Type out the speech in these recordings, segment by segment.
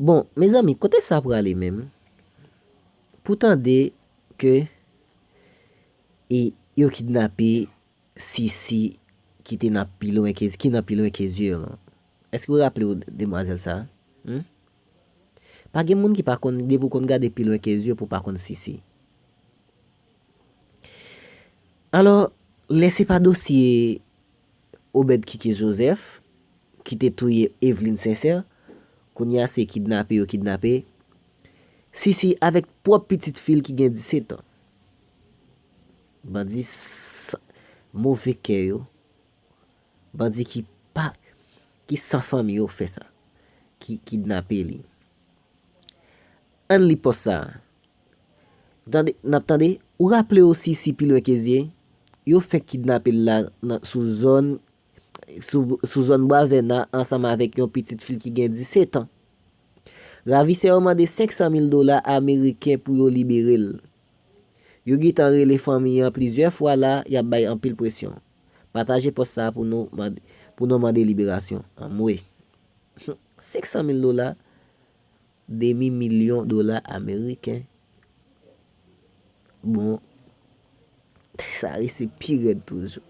Bon, mezanmi, kote sa prale menm? Pou tande ke e yo kidnape Sisi ki te nan pi lwen ke, ki nan pi lwen ke zye yo lan. Eske ou raple ou demwazèl sa? Hum? Pa gen moun ki pa konn depi w konn gade pi lwen ke zye pou w pa konn sisi. Alò, lè se pa dosye Obed Kiki Joseph ki te touye Eveline Sincère, kounye a se kidnape yo kidnape Sisi avèk pwòp pitit fi l ki gen 17 an. Bandi san move kè yo. Bandi ki pa ki san fanmi yo fè sa. Ki kidnape li. Ann li pòs sa a. Ou tande, n ap tande? Ou raple w si si pi lwen ke zye, yo fenk kidnape l la nan sou zòn sou zòn Bwavèna ansanm avèk yon pitit fi l ki gen 17 an. Ravisè yo mande 500 mil dola ameriken pou yo libere l. Yo gitan rele fanmi an plizyè fwa la yap bay anpil presyon pataje pòs sa pou nou mande pou nou mande liberasyon anmwee humm 500 mil dola demi milyon dola ameriken bon sa resi pi rèd toujou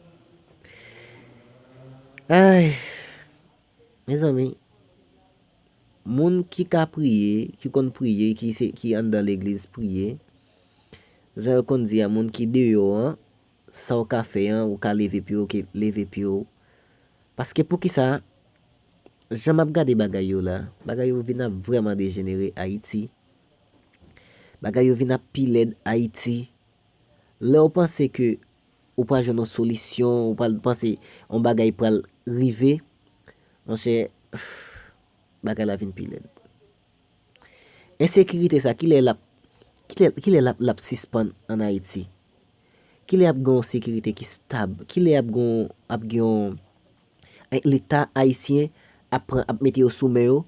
ayy mezanmi. Moun ki ka priye, ki konn priye, ki anndan legliz priye, jan yo konn di a moun ki deyò an, sa w ka fè an, ou ka leve pye w, ok, leve pye w. Paske poukisa, jan m ap gade bagay yo la, bagay yo vin ap vrèman dejenere Ayiti. Bagay yo vin ap pi lèd Ayiti. Lè w panse ke. ou pral jwenn yon solisyon, ou pral panse yon bagay pral rive, monchè, bagay la vin pi lèd. Ensekirite sa, ki lè l ap, ki lè l ap sispann an Ayiti? Ki lè y ap gen yon sekirite ki stab? Ki lè y ap gen, ap gen yon, leta ayisyen ap pran, ap mete yo sou men yo,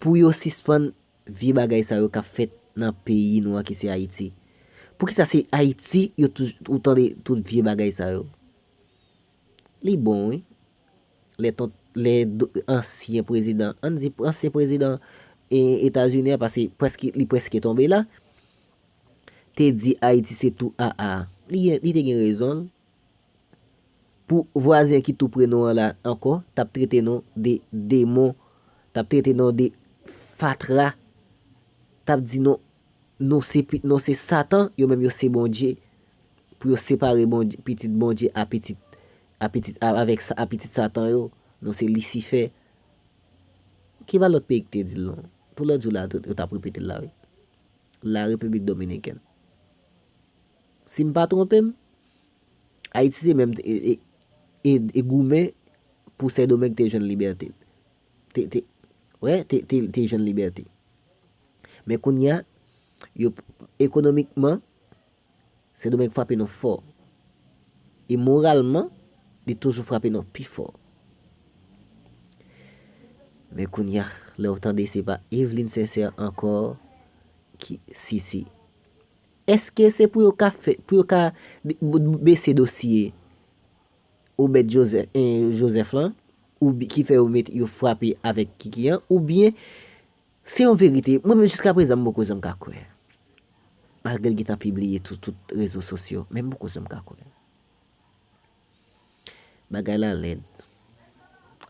pou yo sispann Vye bagay sa yo kap fèt nan peyi nou an ki se Ayiti. Poukisa se Ayiti yo toujou ou tande tout vye bagay sa yo? Li bon wi. Lè ton lè ansyen prezidan, an n di ansyen prezidan e Etazini an pase prèske li prèske tonbe la, te di Ayiti se tou aa. Li gen li te gen rezon l. Pou vwazen ki tou pre nou an la ankò tap trete nou de demon, tap trete nou de fatra, tap di nou nou se pi nou se satan yo menm yo se Bondye pou yo separe Bondye pitit Bondye a pitit a pitit a avèk sa a pitit satan yo nou se lisifè ki pa lòt peyi ki te dil non pou lòt jou la yo tap repetel la wi la repiblik dominikèn. Si m pa twonpe m, Ayiti te menm te goumen pou Sendomeng te jwenn libète l. Te, wè, te jwenn libète. Men kounye a, yo, ekonomikman, Sendomeng frape nou fò. E moralman, li toujou frape nou pi fò. Men kounye a, lè ou tande se pa Eveline Sincère ankò ki, si, si. Eske se pou yo ka fè, pou yo ka bese dosye Obed Joseph lan, ou ki fè yo met, yo frape avèk Kiki an, ou byen, se yon verite, mwen menm jiska prezan m poko janm ka kwè. Malgre l gentan pibliye sou tout rezo sosyo, men m poko janm ka kwè. Bagay la lèd.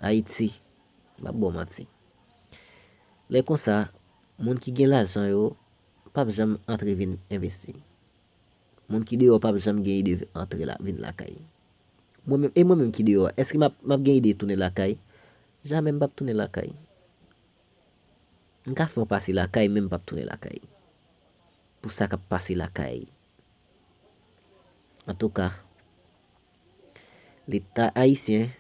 Ayiti, m pap ba w manti. Lè konsa, moun ki gen lajan yo, pap janm antre vin envesti. Moun ki deyò pap janm gen ide antre la vin lakay. Mwen menm e mwen menm ki deyò a èske map map gen ide tounen lakay? Jamè m pap tounen lakay. M ka fè yon pase lakay men m pap tounen lakay. Pou sa kap pase lakay. Antouka, leta ayisyen,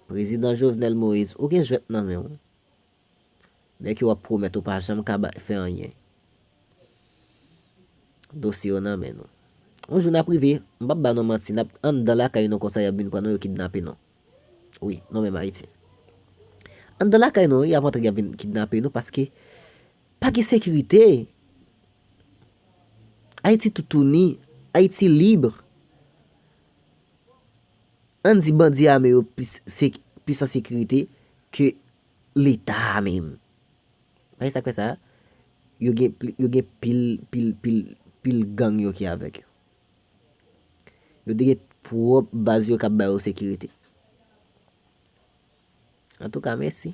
prezidan Jovenel Moise ou gen jwèt nan men w. Nèg yo ap pwomèt ou pa janm ka bay fè anyen. Dosye yo nan men nou. Yon jou nap rive, m pap ba nou manti nap anndan lakay nou konsa yap vin pran nou yo kidnape nou. Wi, nou menm Ayisyen. Anndan lakay nou yap antre yap vin kidnape nou paske pa gen sekirite. Ayiti toutouni, Ayiti libre. Ann di bandi ame yo plis an sekirite ke leta a menm pa gen sak fè sa yo gen yo gen pil pil pil pil gang yo ki avèk yo yo te gen pwòp baz yo kap bayo sekirite antouka mèsi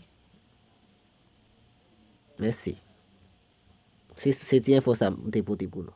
mèsi se ti enfo sa m te pote pou nou.